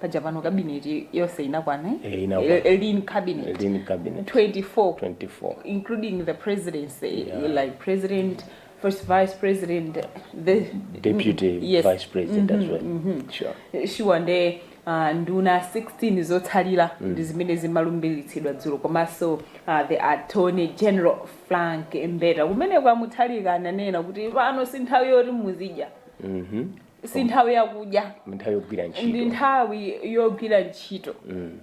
paja pano kabineti yonse inakwana eh? Eh, inakwana. Eh, lean cabinet Lean cabinet. 24 24 including the presidency Yeah. like president first vice president the deputy yes. vice president as well sure sure nde uh, nduna 16 zotsalira ndi zimene zimalumbiritsidwa dzulo komanso uh, the attorney general frank mbeta kumene kwamutsalika ananena kuti pano si nthawi yoti muzidya si nthawi yakudya ndi nthawi yogwira ntchito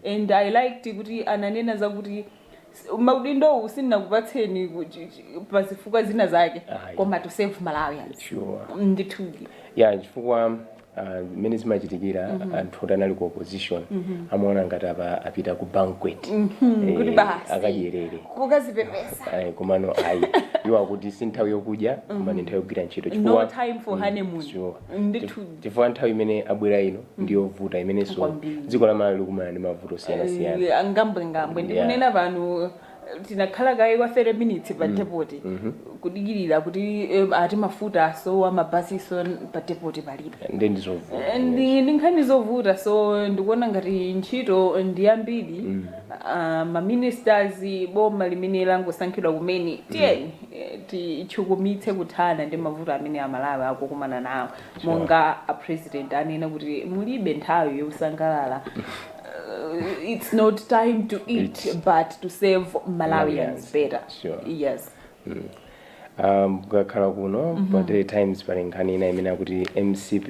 and i liked kuti ananena zakuti s- maudindowu sindinakupatseni ku- chi- chi- pa zifukwa zina zake Ayi. koma to serve malawians sure ndithudi ya chifukwa ah, mmene zimachitikira anthu oti anali ku opposition amaona ngati apa apita ku banquet Eh, kuti basi akadyerere kukazipepesa Ayi, komano ayi iwo akuti si nthawi yokudya koma ndi nthawi yogwira ntchito no time for honeymoon sure. ndithu chifukwa nthawi imene abwera ino ndi yovuta imenenso Kwambiri. dziko la malawi likumana ndi mavuto osiyanasiyana Eh, ngambwengambwe Yeah. ndikunena pano eh, tinakhala kaye kwa 30 minutes pa depoti kudikirira kuti eh, ati mafuta asowa mabasiso pa depoti palibe ndizovuta Eh, ndi ndi nkhani zovuta so ndikuona ngati ntchito ndi yambiri Aaa ma ministers boma limene langosankhidwa kumene tiyeni titchukumitse kuthana ndi mavuto amene amalawi akukumana nawo monga a president anena kuti mulibe nthawi yosangalala uh, it's not time to eat but to serve malawians better Sure. yes Um, kukakhala kuno pa daily times pali nkhani ina imene akuti mcp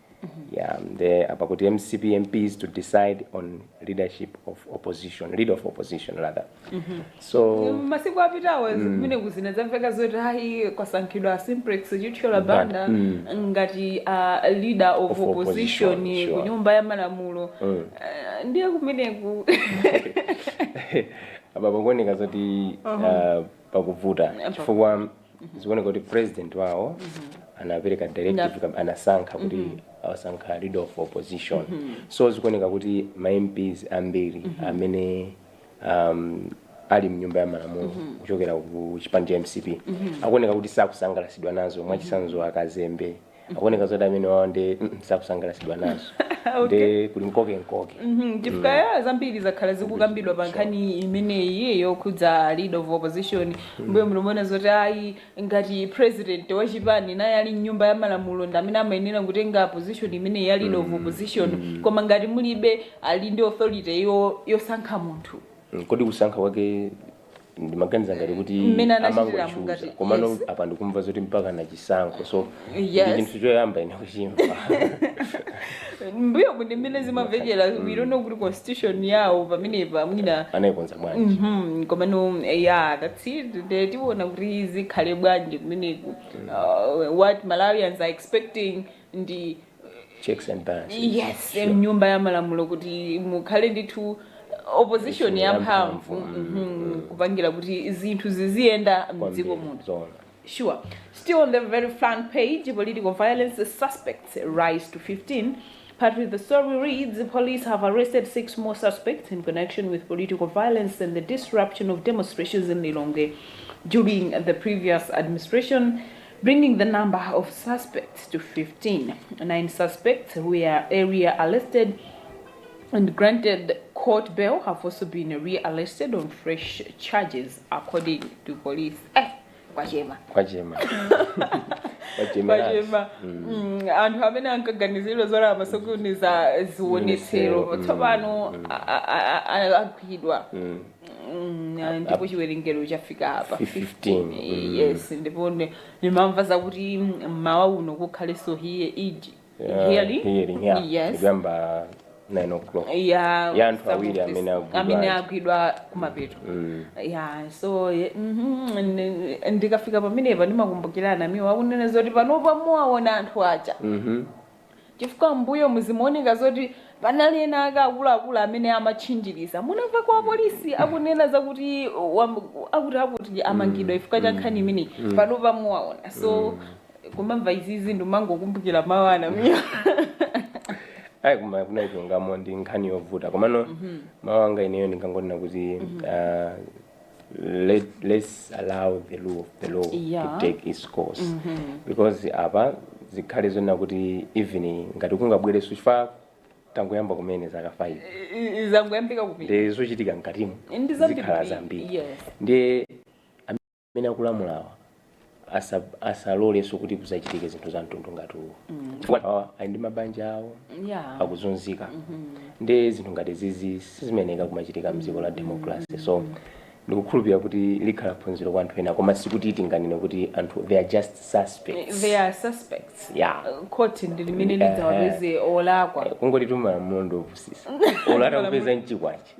ya nde akuti mcp mps to decide on leadership of opposition leader of opposition rather so masiku apitawo kumeneku zina zamveka zoti ayi kwasankhidwa simplex chithyola banda Mm. ngati a leader of, Of opposition, opposition sure. ku nyumba ya malamulo Mm. Eh, ndiye kumeneku apa pakuoneka zoti uh, pakuvuta chifukwa zikuoneka kuti president wawo anapereka directive kam- anasankha kuti awasankha leader of opposition so zikuoneka kuti ma mps ambiri amene um, ali mnyumba ya malamulo kuchokera ku chipani cha mcp akuoneka kuti sakusangalasidwa nazo mwachisanzo akazembe akuoneka zoti amenewawo ndi mm, sakusangalatsidwa nazo ndi kuli nkoke nkoke Mhm, chifukwa ya zambiri zakhala zikukambidwa pa nkhani imeneyi yokhudza leader of opposition mbuyomu timaona zoti ayi ngati president wa chipani naye ali mnyumba ya malamulo ndi amene amayenera kutenga position imeneyi ya leader of opposition koma ngati mulibe ali ndi authority yo- yosankha munthu Mm, kodi kusankha kwake ndimaganiza ngati kuti Mmene anachitira amangochuza mungati, komano yes. apa ndikumva zoti mpaka na chisankho so Yes. ndi chinthu choyamba ine kuchimva mbuyomu ndi mmene zimamvekera we don't know kuti constitution yawo pamenepa mwina anayikonza bwanji Mhm, komano ya that's it nde tiona kuti zikhale bwanji kumeneko uh, what malawians are expecting ndi checks and balances yes Sure. mnyumba ya malamulo kuti mukhale ndithu opposition ya mphamvu mhm, kupangira kuti zinthu ziziyenda mdziko Kwambiri, muno zoona. Sure. Still on the very front page, political violence suspects rise to 15. Part of the story reads the police have arrested six more suspects in connection with political violence and the disruption of demonstrations in Lilongwe during the previous administration. bringing the number of suspects to 15. Nine suspects who were earlier arrested and granted court bail have also been rearrested on fresh charges, according to police. Eh, kwachema. kwachema kwachema kwachema Mm, anthu amene ankaganizidwa zoti amasokoneza zionetsero Zionetsero, mm, tsopano a- a- a- a- agwidwa Mm, ah, ndipo chiwerengero chafika apa 15, 15 mm. yes ndipo ne- ndimamva zakuti mmawa uno kukhalenso hiye iji Yeah, hearing hearing, yeah. yes Ikuyamba 9 o'clock ya Ya anthu awiri some of amene this- agwidwa amene aja. agwidwa kumapeto Mm. ya so ye- mhm, ndi- ndikafika pamenepa ndimakumbukira a Namiwa akunena zoti panopa muwaona anthu aja Mhm. Chifukwa mmbuyomu zimaoneka zoti panali ena ake akuluakulu amene amatchinjiriza. Munamvako apolisi akunena za kuti wamb- akutiakuti amangidwa chifukwa cha nkhani imeneyi. Panopa muwaona. So kumamva izizi ndimangokumbukira mawu a Namiwa. ayi koma kunena chilungamo ndi nkhani yovuta komano mawu anga ineyo ndingangonena kuti ah, let, let's allow the rule of the law Yeah. to take its course because apa zikhale zonena kuti even ngati kungobwezerana chifukwa tangoyamba kumene zaka 5 I- i- zangoyambika kumene ndi zochitika mkatimu Ndi zambiri. zikhala zambiri Yes. ndiye amene akulamulawa asa asalolenso kuti kuzachitike zinthu za mtundu ngati uwu chifukwa awa ali ndi mabanja awo yeah akuzunzika ndi zinthu ngati zizi sizimayenera kumachitika mdziko la democracy so ndikukhulupirira kuti likhala phunziro kwa anthu ena koma sikuti tinganene kuti anthu they are just suspects they are suspects yeah khoti ndi limene Yeah. lidzawapeze olakwa kungoti timamulondo opusitsa ukatha kupeza mchikwachi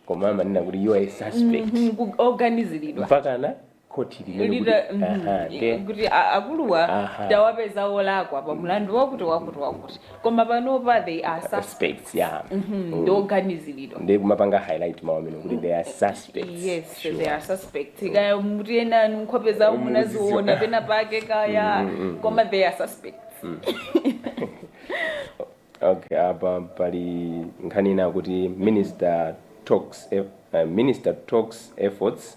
koma amanena kuti you are a suspect Mhm, ku- oganiziridwa mpakana khoti limanena kuti Lita- mhm, aha, nde kuti a- akuluwa aha tawapeza olakwa pa mlandu wakuti wakuti wakuti koma panopa they are suspect suspects ya ndi oganiziridwa nde kumapanga highlight mawu amene kuti they are suspects yes Sure. they are suspect kaya muti ena nkhope zawo Mm, munaziona muziziona. pena pake kaya koma they are suspect okay apa pali nkhani ina kuti minister talks eff- uh, minister talks efforts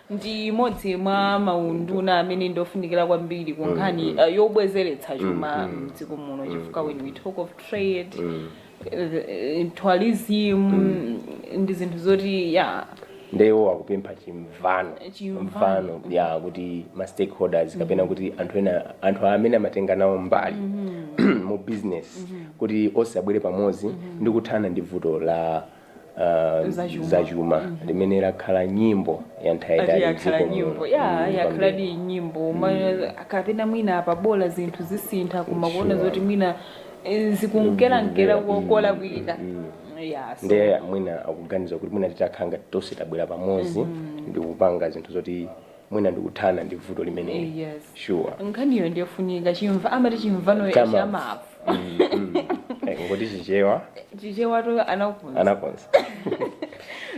ndi imodzi mwa maunduna amene ndi ofunikira kwambiri ku nkhani uh, yobwezeretsa chuma mdziko muno chifukwa when we talk of trade eh, tourism ndi zinthu zoti ya nde iwo akupempha chimvano Chimvano. mvano ya kuti ma stakeholders kapena kuti anthu ena anthu amene amatenga nawo mbali mu business kuti onse abwere pamodzi ndi kuthana ndi vuto la ah, Zachuma. zachuma limene lakhala nyimbo ya nthawi yaitali yakhala m'dziko nyimbo muno. ya Mm, yakhala kwambiri. di nyimbo Ma- kapena mwina apa bola zinthu zisintha koma kuona Sure. zoti mwina eh, zikunkerankera Mm, mm, kolakwika mm. ya so- ndiye mwina akuganiza kuti mwina titakhala ngati tonse tabwera pamodzi ndi kupanga zinthu zoti mwina ndikuthana ndi vuto limeneli Yes. sure nkhaniyo ndiyofunika chimva amati chimvano cha mavu Mm, mm. Eh, ngati chichewa chichewato anakonza anakonza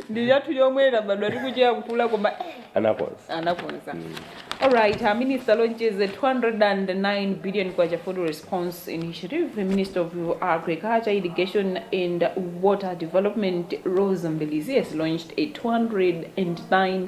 ndi chathu chomwe tabadwa tikuchedwa kukula koma eh, anakonza anakonza alright uh, minister launches a 209 billion kwacha food response initiative the minister of agriculture irrigation and water development Roza Mbilizi has launched a 209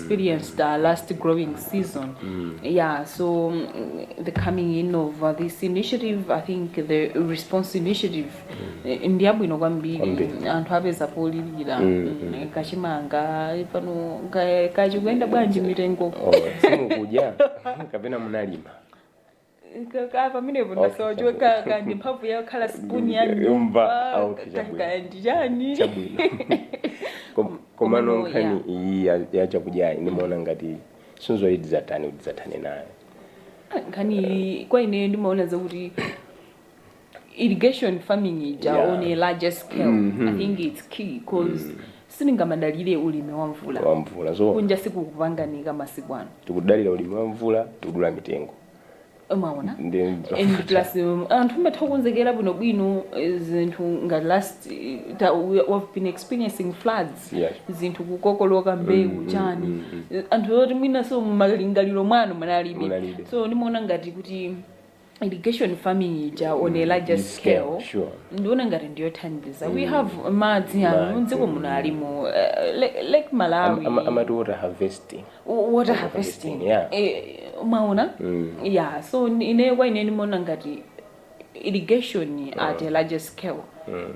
experienced uh, last growing season. Yeah, so um, the coming in of uh, this initiative, I think the response initiative eh, ndi yabwino kwambiri Kwambiri. anthu apeza polilira mm, kachimanga pano ka- chikuyenda bwanji mitengo Oh, simukudya kapena munalima Ka- ka- pamenepo Okay, ndasowa chabwino. chokhala kaya ndi mphamvu yakhala spoon ya Ndimve- nyumba mva, ah, okay, ka- chabwino. kaya ndi chani chabwino Kom- komano Komano, nkhani iyi ya- ya chakudyayi ndimaona ngati sinzoyi tidzatani kuti tidzathane nayo nkhani iyi kwa ine ndimaona zakuti irrigation farming ija Yeah. on a larger scale Mhm. i think its key cause sitingamadalire ulimi wa mvula wamvula so kunja sikukupanganika masiku ano tikudalira ulimi wa mvula tikudula mitengo umaona ndi and plus um, anthu amatha kukonzekera bwinobwino eh, zinthu ngati last eh, ta- we have been experiencing floods Yes. zinthu kukokoloka mbewu chani Eh, anthu oti mwinanso mmalingaliro mwawo munalibe Munalibe. so ndimaona ngati kuti irrigation farming ija on a larger scale, scale sure. ndiona ngati ndiyothandiza mm. we have madzi amene mdziko muno ali mu uh, lake, lake malawi am, am, amati water harvesting water harvesting yeah. e, mwaona mm. yeah so ineyo kwa ine ndimaona ngati irrigation mm. at a larger scale mm.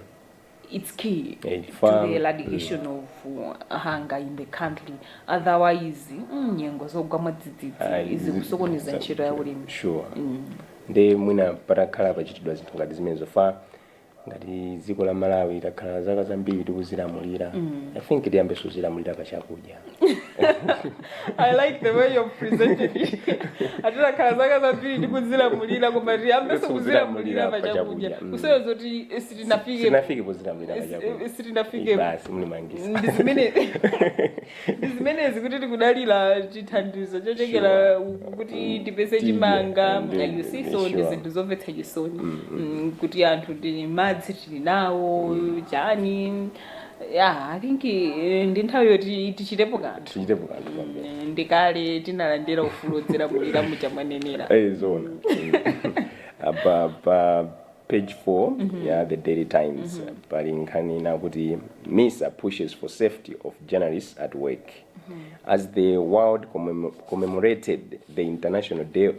its key Eh, to chifukwa- the eradication of uh, hunger in the country otherwise mm, nyengo zogwa mwadzidzidzi izi zikusokoneza ntchito ya ulimi sure Mm. nde mwina patakhala pachitidwa zinthu ngati zimenezo chifukwa ngati dziko la malawi takhala zaka zambiri tikudzilamulira i think tiyambenso kudzilamulira pa chakudya i like the way you've presented it ati takhala zaka zambiri tikudzilamulira koma tiyambenso kudzilamulira pa chakudya Mm. kusonyeza zoti sitinafike sinafike podzilamulira pa chakudya sitinafike basi mlimangisa ndi zimene ndi zimenezi kuti tikudalira chithandizo chochokera kwakuti kuti tipeze Tiye, chimanga ndi- like you see ndi so ndi sure. zinthu zomvetsa chisoni Mm, kuti anthu tili madzi tili nawo chani ya i think eh, ndi nthawi yoti tichitepo kanthu tichitepo kanthu kwambiri Eh, ndi kale tinalandira ufulu wodzilamulira momwe mwanenera Eh, zona apa pa page 4 ya the daily times pali nkhani ina kuti misa pushes for safety of journalists at work as the world commem- commemorated the international day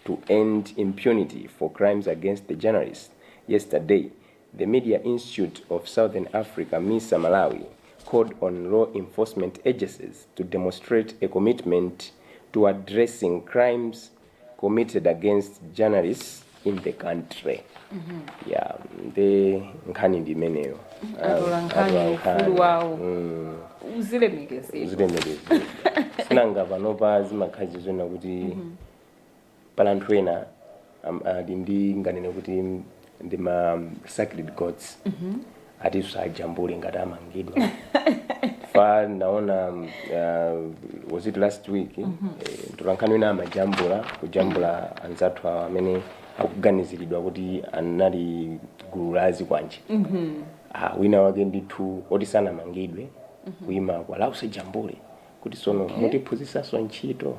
to end impunity for crimes against the journalists yesterday The Media Institute of Southern Africa, misa, Malawi called on law enforcement agencies to demonstrate a commitment to addressing crimes committed against journalists in the country. Yeah, nde nkhani ndi imeneyo. Atola nkhani, Atola nkhani. ufulu wawo. Mm, uzilemekezedwa. Uzilemekezedwa. Si nanga panopa zimakhala zikuoneka kuti Pali anthu ena am- ali ndi nganene kuti ndi ma sacred cows oti asajambulidwe ngati amangidwa chifukwa ndinaona um, uh, was it last week eh, mtolankhani wina amajambula kujambula anzathu awo amene akuganiziridwa kuti anali gulu la zikwanje ah, wina wake ndithu oti sanamangidwe kumamukalipira usajambule kuti tsono mutiphunzisanso ntchito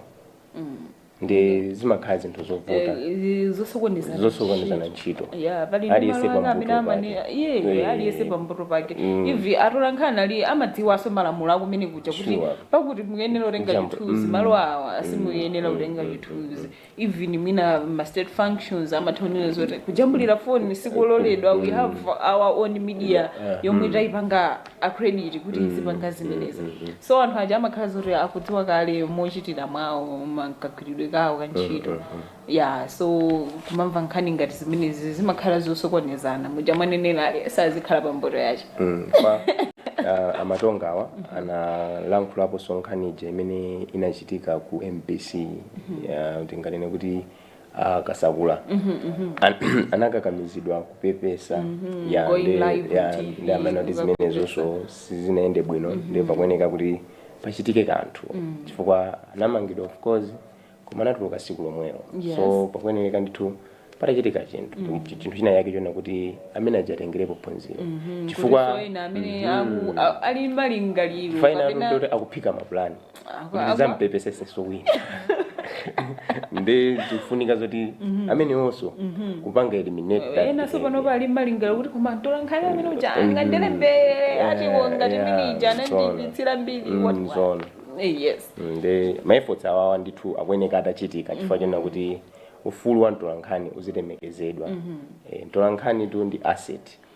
ndi zimakhala zinthu zovuta Eh, zosokonezana zosokonezana ntchito ya pali ndi Aliyense malo ake amene pa mbuto amane pake. iye Eh. aliyense pa mbuto pake Mm. even atolankhaniwa amadziwanso malamulo a kumenekuja kuti Sure. apa kuti muyenera kutenga Jambo. chithunzi Mm. malo awa simuyenera Mm. kutenga Mm. chithunzi even mwina ma state functions amatha kunena zoti kujambulira foni sikuloledwa we have our own media Yeah. yomwe Mm. taipanga accredit kuti izipanga zimenezi so anthu aja amakhala zoti akudziwa kale mochitira mwawo ma- kagwiridwe kawo ka ntchito ya so kumamva nkhani ngati zimenezi zimakhala zosokonezana muja mwanenera aliyense azikhala pa mbuto yace Mm, pa ah, a Matonga awa analankhulaponso nkhani ija imene inachitika ku mbc Ya, tinganene kuti a kasakula An- anakakamizidwa kupepesa ya Going ndi- live ya- TV, ndi amene kuti kupepesa. zimenezonso sizinayende bwino nde pakufunika kuti pachitike kanthu chifukwa anamangidwa of course koma anatuluka siku lomwelo Yes. so pakuyenereka ndithu patachitika chinthu Chi- chinthu china yake chonena kuti amene aja atengerepo phunziro chifukwa chifukwa ena amene aku- a- ali malingaliro chifukwa ena kapena kuti akuphika mapulani kuti ndizampepesetsenso wina nde zikufunika zoti amenewonso kupanga eliminate that ena so pano behavior. pali malingaliro kuti koma mtolankhani amene uja angandilembe atiwo ngati yeah, mene ija zoona. anandiipitsira mbiri Mm, what- what. zoona. Eh, yes nde maefforts awawa ndithu akufunika atachitika chifukwa chonena kuti ufulu wa mtolankhani uzilemekezedwa Eh, mtolankhanitu ndi asset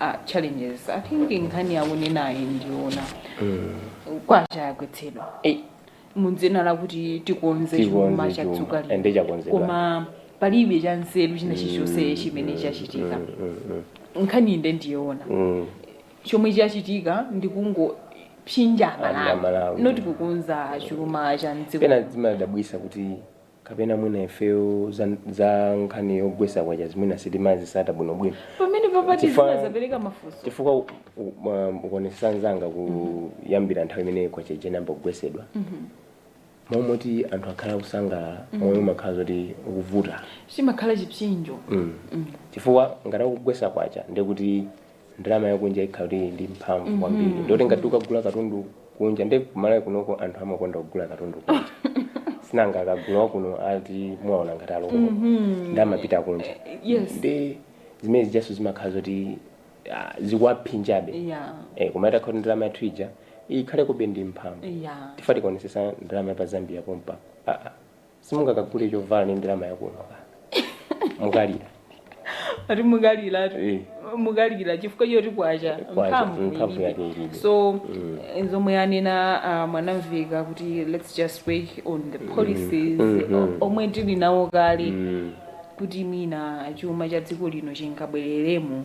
a challenges i think nkhani akunenayi ndiyoona kwacha yagwetsedwa Eh, mudzina lakuti tikonze Tikonze chuma cha chuma. dziko lino. Ende chakonzedwa. koma palibe chanzeru china chilichonse chimene chachitika nkhani inde ndiyoona mm. chomwe chachitika ndikungophinja Amalawi. amalawi not kukonza chuma cha mdziko pena zimadabwisa kuti kapena mwina ifeyo za, za nkhani yogwesa kwachazi mwina sitimazitsata bwinobwino pamene penapake Chifukwa- zinazapereka mafunso chifukwa u- u- ma- ukuonesesa nzanga kuyambira nthawi imene kwacha ija inayamba kugwesedwa mmalo moti anthu akhale akusangalala moyo umakhala zoti ukuvuta chimakhala chipsyinjo mm. chifukwa ngati akugwesa kwacha ndekuti ndalama yakunja ikhala kuti ili ndi mphamvu kwambiri mm -hmm. ndekuti ngati ukagula katundu kunja nde ku Malawi kunoko anthu amakonda kugula katundu kunja sinanga akagula wakuno ati muwaona ngati a local mm -hmm. nde amapita kunja yes. nde zimene zijanso zimakhala zoti uh, zikuwaphinjabe yeah. eh, koma itakhala kuti ndalama yathu ija ikhalekobe ndi mphamvu yeah. titati kuonesesa ndalama ya pa Zambia pompa ah, ah. simungakagule chovala ndi ndalama yakuno ka mukalira ati mukaliratu Eh. mukalira chifukwa choti kwacha Kwacha, mphamvu mphamvu ilibe. yake ilibe. so eh, zomwe anena a Mwanamveka kuti let's just work on the policies o- omwe tili nawo kale kuti mwina chuma cha dziko lino chingabwereremo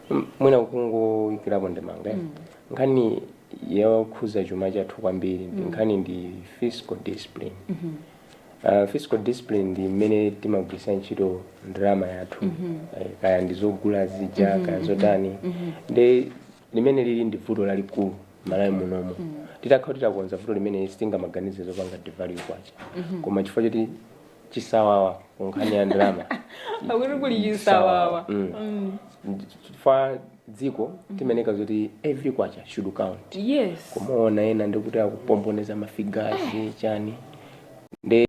M- mwina kungoyikirapo ndemanga mm. nkhani yokhuza chuma chathu kwambiri nkhani ndi fiscal discipline Uh, fiscal discipline ndi mmene timagwiritsa ntchito ndalama yathu Eh, kaya ndi zogula zija kaya zotani ndi limene lili ndi vuto lalikulu malawi munomo titakhala titakonza vuto limene sitingamaganize zopanga devalue kwacha koma chifukwa choti chisawawa ku nkhani ya ndalama akuti kuli chisawawa Mm. Mm. Ndi- chifukwa dziko timayeneka zoti every kwacha should count yes kumaona ena ndikuti akupomboneza mafigazi chani nde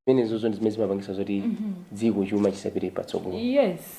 zimenezozo ndi zimene zimapangisa zoti dziko chuma chisapite patsogolo yes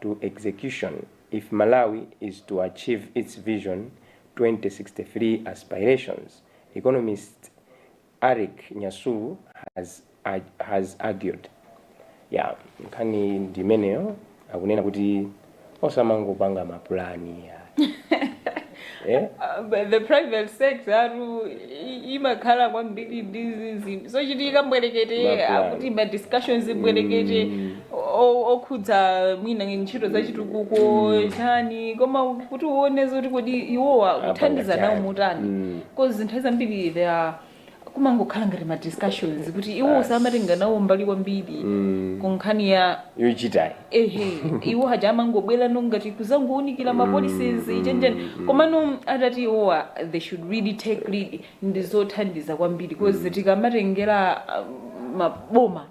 to execution if Malawi is to achieve its Vision 2063 aspirations, economist Erick Nyasulu has argued. Yeah, nkhani ndi imeneyo akunena kuti osamangopanga mapulani ya Eh? Uh, but the private sector yathu i- imakhala kwambiri ndi zizi zochitika mbwerekete akuti ma discussions mbwerekete o- okhudza mwina ntchito za chitukuko chani koma kuti uone zoti kodi iwowa kuthandiza nawo motani Mm. because nthawi zambiri there are kumangokhala ngati ma discussions kuti iwo samatenga nawo mbali kwambiri ku nkhani ya yochitayi ehe iwo haja amangobwera no ngati kuzangounikira ma policies chani chani komano atati iwowa they should really take lead ndi zothandiza kwambiri because tikamatengera um, maboma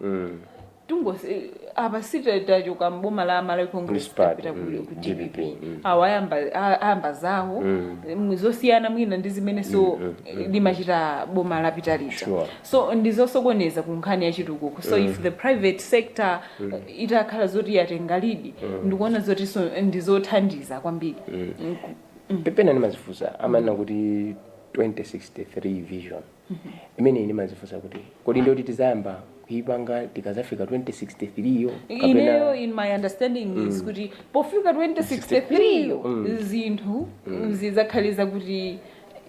Tungosi apa si tachoka mboma la Malawi Congress Party, tapita ku mm, ku DPP. mm. Awa ayamba a- ayamba zawo Mm. mm, zosiyana mwina ndi zimene so Mm, mm, mm. limachita boma lapita lija. Sure. So ndizosokoneza ku nkhani ya chitukuko. So if the private sector uh, itakhala zoti yatenga lead ndikuona zoti so ndizothandiza kwambiri. Mm, ku- pepena ndimazifunsa amanena kuti 2063 vision imeneyi ndimazifunsa kuti kodi ndiyoti tizayamba kuipanga tikazafika 2063 yo ineyo in my understanding is kuti pofika 2063 yo zinthu zidzakhale zakuti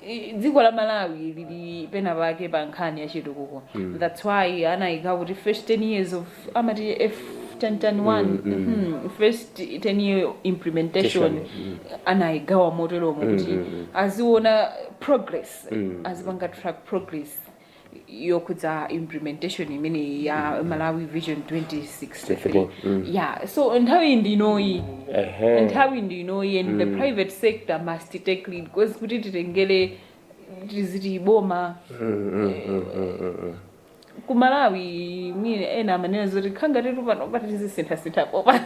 i- dziko la malawi lili pena pake pa nkhani ya chitukuko thats why anayika kuti first 10 years of amati f 1010 mhm, first 10 year implementation anayigawa moteromo kuti aziona progress azipanga track progress yokhudza implementation imeneyi ya malawi vision 2063 Mm. yeah so nthawi ndinoyi Ehe. nthawi ndinoyi and the private sector must take lead because kuti titengere tiziti boma Mm, mm, mm, mm, mm, mm. ku malawi mwina ena amanena zoti khangatitu panopa tizisinthasintha popa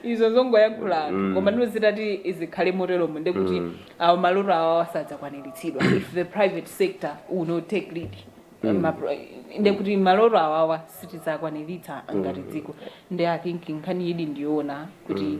izo zongoyankhula anthu koma ndino zitati zikhale moteromo nde kuti awo maloto awawa sadzakwaniritsidwa if the private sector will not take lead nde kuti maloto awawa sitidzakwaniritsa ngati dziko nde i think nkhani iyidi ndiyoona kuti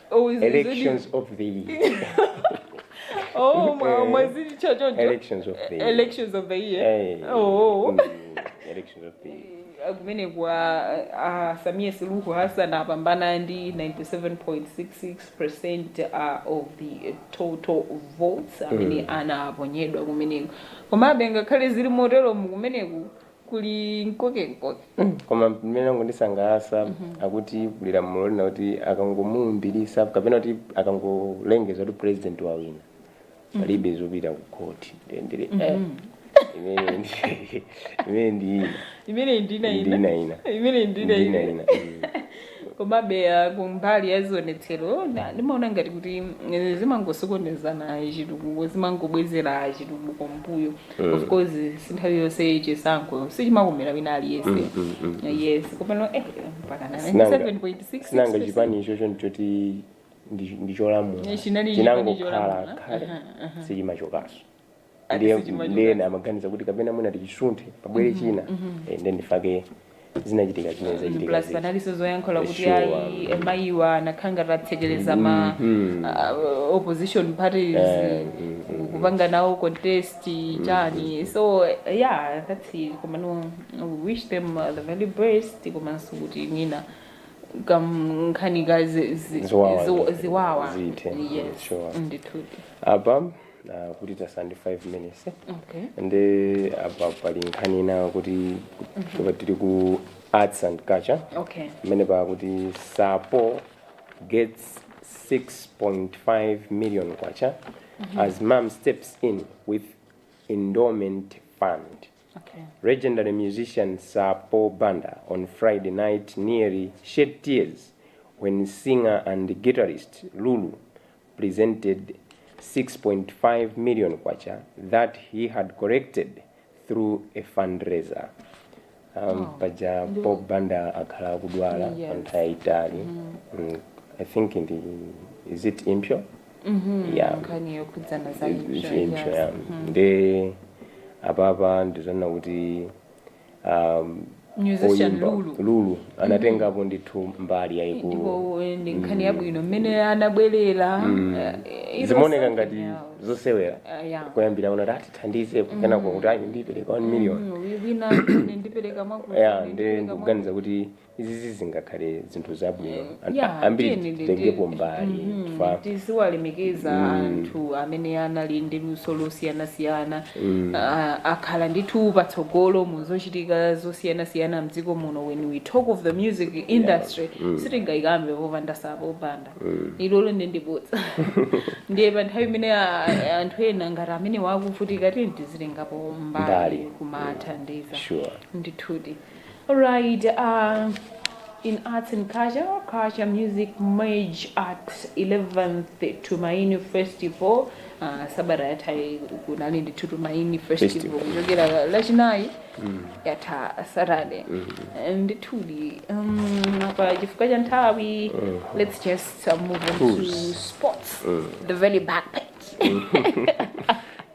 Oh, is- is it- elections of the year Oh, mwa- Eh, mwazitcha choncho. elections of the year Elections of the year. Eh, Oh. mm, elections of the year kumene kwa uh, samia suluhu hassan apambana ndi 97.66 percent of the total votes amene anaponyedwa kumeneko komabe ngakhale zili moteromu kumeneku kuli mkokemkoke. koma limene langondisangalasa akuti kuli lamulo lina kuti akangomulumbilisa kapena kuti akangolengeza kuti president wawina palibe zopita ku court Ndiye ndili eh, imene ndi- imene ndi ina imeneyi ndina Ndina ina. ina imeneyi ndina Ndina ina ina. Mm. Komabe, ku mbali ya zionetsero, ndimaona ngati kuti zimangosokonezana chitukuko, zimangobwezera chitukuko mbuyo. Mm. Of course, sinthawi yonse chisankho sichimakomera wina aliyese. Mm, mm, mm, mm. Yes, komano eh mpakana 97.6. Sinanga chipani icho nchoti ndicholamula. Chinali chipani cholamula. Chinangokhala kale. Uh -huh, uh -huh. Sichimachokaso. ndiye Ati sichimachoka. ndiye ena amaganiza kuti kapena mwina tichisunthe pabwere china eh, ndiye ndifake zinachitika zimene zachitika plus zija. panalinso zoyankhula kuti Sure. ayi mayiwa anakhangati atsekereza ma Mhm. ah, opposition parties Eh, mhm. kupanga nawo contest chani so yeah that's it komano we wish them uh, the very best komanso kuti mwina kam- nkhani ka zi- zi- Ziwawa. ziwa- ziwawa Zithe. yes Sure. ndithudi apa na kuti tasala ndi 5 minutes Okay. nde apa pali nkhani ina kuti kuti tili ku arts and culture Okay. imene pakuti Sir Paul gets 6.5 million kwacha as MUM steps in with endowment fund Okay. legendary musician Sir Paul Banda on Friday night nearly shed tears when singer and guitarist Lulu presented K6.5 million that he had collected through a fundraiser. Um, oh. Paja Bob Banda akhala akudwala yes. panthawi yaitali mm -hmm. mm, I think in the, is it impure? Mm -hmm. Yeah. Nkhani yokhudzana za impure. Yes. Yeah. Mm -hmm. Nde apapa ndizona kuti um, musician oyimba lulu lulu anatengapo ndithu mbali yayikulu ndipo eh, ndi nkhani yabwino mmene anabwerera eh, it was zimaoneka something ngati else. zosewera Ah, yeah. kuyambira wina ati tithandize kenako kuti ayi ndipereka 1 million Mm, wi- wina ine ndipereka mwakuti, ya ine ndi ndipereka ndikuganiza kuti Izi zizingakhale zinthu zabwino anthu yeah, ambiri titengepo mbali mm -hmm. tiziwalemekeza mm. anthu amene anali ndi luso losiyanasiyana mm. uh, akhala ndithu patsogolo mu zochitika zosiyanasiyana mdziko muno when we talk of the music industry yeah. mm. sitingayikambe popanda Sapo Banda mm. ilolo nde ndi bodza ndiye pa nthawi imene anthu ena ngati amenewa akuvutika tini tizitengapo mbali kumathandiza sure. ndithudi Alright, uh, in arts and culture, culture music merge at 11th Tumaini Festival. Uh, sabata yatha kunali ndi Tumaini Festival Festival. kuchokera lachinayi yatha Saturday. Ndithudi um, apa chifukwa cha nthawi let's just uh, move on to Fools. sports. The very back page.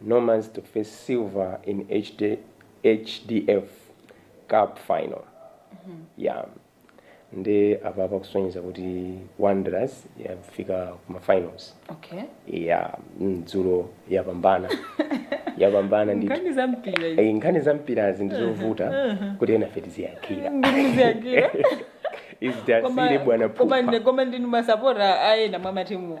Nomads to face Silver in HD HDF cup final yeah nde apapa kusonyeza kuti Wanderers yafika kuma finals okay yeah mm, dzulo yapambana yapambana ndi nkhani za mpira izi. Eh, nkhani za mpirazi ndi zovuta kuti enafe tiziyankhira Ndikuziyankhira. izi Koma- tisiire bwana koma pupa ndi- koma ndinu masapota a ena mwa matimuwa